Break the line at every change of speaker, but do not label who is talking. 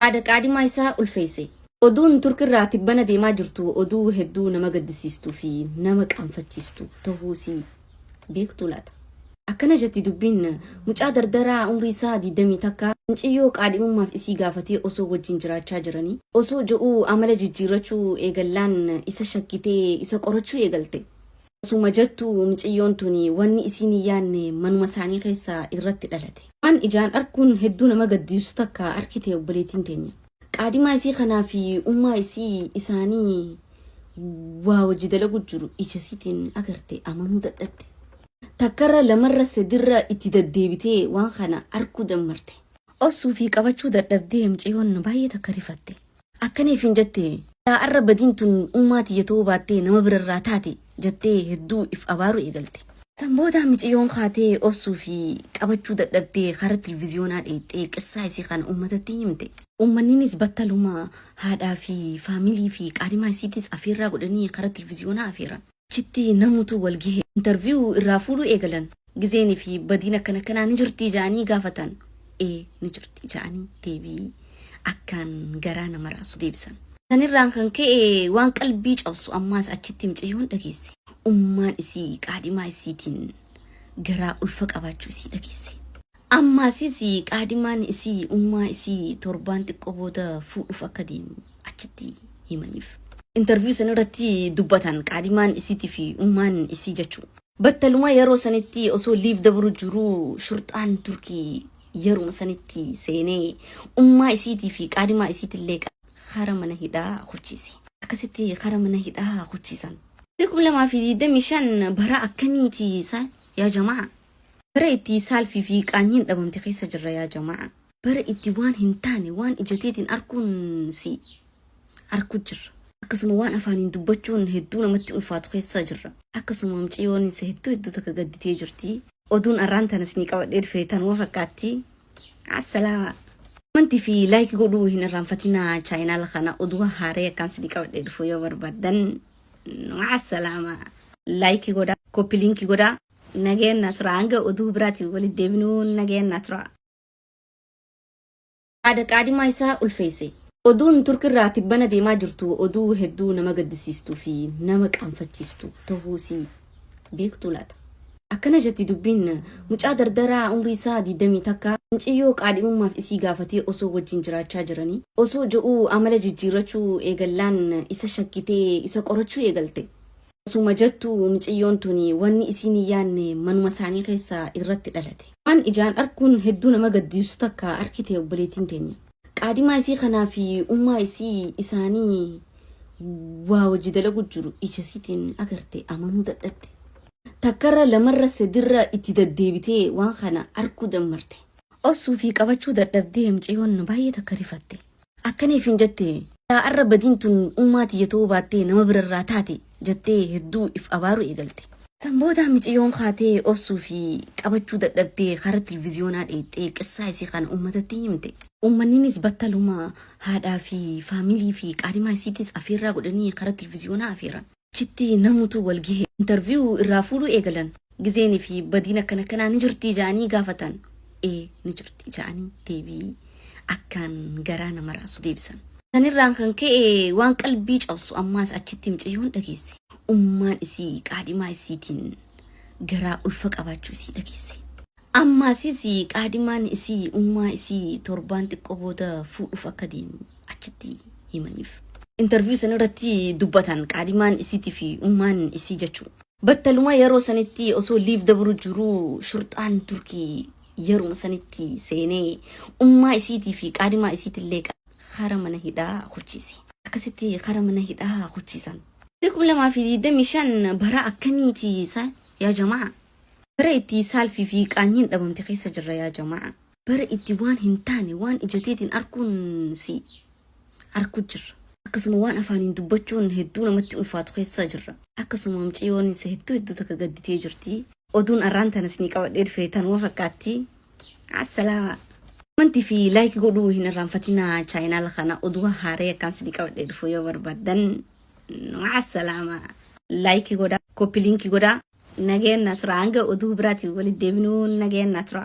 Haadha qaadimaa isaa ulfeesse. Oduun Turkirraa tibbana deemaa jirtu oduu hedduu nama gaddisiistuu fi nama qaanfachiistu tahuusii beektuu laata? Akkana jetti dubbiin mucaa dardaraa umrii isaa 20 takka minciyyoo qaadhimummaaf isii gaafatee osoo wajjin jiraachaa jiranii osoo ji'uu amala jijjiirrachuu eegallaan isa shakkitee isa qorachuu eegalte. Osuma jettu miciyyoon tuni wanni isiin hin yaanne manuma isaanii keessa irratti dhalate. Waan ijaan arkuun hedduu nama gaddiisu takka arkite obboleettiin teenya. Qaadimaa isii kanaa fi ummaa isii isaanii waa wajji dalagu jiru ija isiitiin agarte amanuu dadhabde. Takkarra lamarra sadirra itti daddeebitee waan kana arkuu dammarte. Obsuu fi qabachuu dadhabdee miciyyoon baay'ee takka rifatte. Akkana ifiin jette, Silaa arra badiin tun ummaa tiyya ta'uu baattee nama bira irraa taate jettee hedduu if abaaruu eegalte. San booda miciyyoon kaatee obsuu fi qabachuu dadhabdee kara tilviziyoonaa dheeyxee qissaa isii kana ummatatti himte. Ummanninis battaluma haadhaa fi faamilii fi qaadhimaa isiitiis afeerraa godhanii kara tilviziyoonaa afeeran. Achitti namutu wal gehe. Interview irraa fuudhuu eegalan. Gizeen fi badiin akkan akkanaa ni jirtii ja'anii gaafatan. Ee ni jirti ja'anii deebii akkaan garaa nama raasu deebisan. Sanirraan kan ka'e waan qalbii cabsu ammaas achitti micayyoon dhageesse. Ummaan isii qaadhimaa isiitiin garaa ulfa qabaachuu isii dhageesse. Ammaasiis qaadimaan isii ummaa isii torbaan xiqqoo booda fuudhuuf akka deemu achitti himaniif. Interview san irratti dubbatan qaadimaan isiitii fi ummaan isii jechu. Battaluma yeroo sanitti osoo liiv dabru jiruu shurxaan Turkii yeruma sanitti seenee ummaa isiitii fi qaadimaa isiitillee qabee kara mana hidhaa kuchiise. Akkasitti kara mana hidhaa kuchiisan. 2025 bara akkamiiti sa yaa jamaa? Bara itti saalfii fi qaanyiin dhabamte keessa jirra yaa jama'aa. Bara itti waan hin taane waan ija teetiin arkuun si arku jirra. Akkasuma waan afaaniin dubbachuun hedduu namatti ulfaatu keessa jirra. Akkasuma miciyoon se hedduu hedduu takka gadditee jirti. Oduun arraan tana isinii qabadhee dhufe tanuma fakkaatti. Assalaama. Commenti fi like godhuu hin irraanfatinaa chaayinaala kana oduu haaree akkaan isinii qabadhee dhufu yoo barbaaddan. Ma'a salaama. Like godha, copy link godha. Nageen na tura hanga oduu biraatiin walitti deebinuu nageen na tura. Haadha qaadimaa isaa ulfeesse. Oduun Turkirraa tibbana deemaa jirtu oduu hedduu nama gaddisiistuu fi nama qaanfachiistu tahuusii beektuu laata? Akkana jetti dubbiin, mucaa dardaraa umrii isaa 20 takka minciyyoo qaadhimummaaf isii gaafatee osoo wajjin jiraachaa jiranii osoo ji'uu amala jijjiirrachuu eegallaan isa shakkitee isa qorachuu eegalte. Osuma jettu miciyyoon tuni wanni isiin hin yaanne manuma isaanii keessa irratti dhalate. Waan ijaan arkuun hedduu nama gaddiibsu takka arkite obboleettiin teenya. Qaadimaa isii kanaa fi ummaa isii isaanii waa wajji dalagu jiru ija isiitiin agarte amanuu dadhabde. Takkarra lamarra sadirra itti daddeebitee waan kana arkuu dammarte. Obsuu fi qabachuu dadhabdee miciyyoon baay'ee takka rifatte. Akkana ifiin jette, Yaa arra badiin tun ummaa tiyya ta'uu baattee nama bira irraa taate, jettee hedduu if abaaruu eegalte. San booda miciyyoon kaatee obsuu fi qabachuu dadhabdee kara tilviziyoonaa dheeyxee qissaa isii kana ummatatti himte. Ummanninis battaluma haadhaa fi faamilii fi qaarimaa isiitis afeerraa godhanii kara tilviziyoonaa afeeran. Achitti namutu wal gehe. Interview irraa fuudhuu eegalan. Gizeen fi badiin akkan akkanaa ni jirtii ja'anii gaafatan. Ee ni jirti ja'anii deebii akkaan garaa nama raasu deebisan. Sanirraan kan ka'e waan qalbii cabsu ammaas achitti micayyoon dhageesse. Ummaan isii qaadhimaa isiitiin garaa ulfa qabaachuu isii dhageesse. Ammaasis qaadimaan isii ummaa isii torbaan xiqqoo booda fuudhuuf akka deemu achitti himaniif. Interview san irratti dubbatan qaadimaan isiitii fi ummaan isii jechuu. Battaluma yeroo sanitti osoo liiv dabru jiruu shurxaan Turkii yeruma sanitti seenee ummaa isiitii fi qaadimaa isiitillee kara mana hidhaa kuchiise. Akkasitti kara mana hidhaa kuchiisan. 2025 bara akkamiiti sa yaa jamaa? Bara itti saalfii fi qaanyiin dhabamte keessa jirra yaa jama'aa. Bara itti waan hin taane waan ija teetiin arkuun si arku jirra. Akkasuma waan afaaniin dubbachuun hedduu namatti ulfaatu keessa jirra. Akkasuma miciyoon se hedduu hedduu takka gadditee jirti. Oduun arraan tana isinii qabadhee dhufe tanuma fakkaatti. Assalaama. Commenti fi like godhuu hin irraanfatinaa chaayinaala kana oduu haaree akkaan isinii qabadhee dhufu yoo barbaadan. Ma'a salaama. Like godha, copy link godha. Nageen na tura hanga oduu biraatiin walitti deebinuu nageen na tura.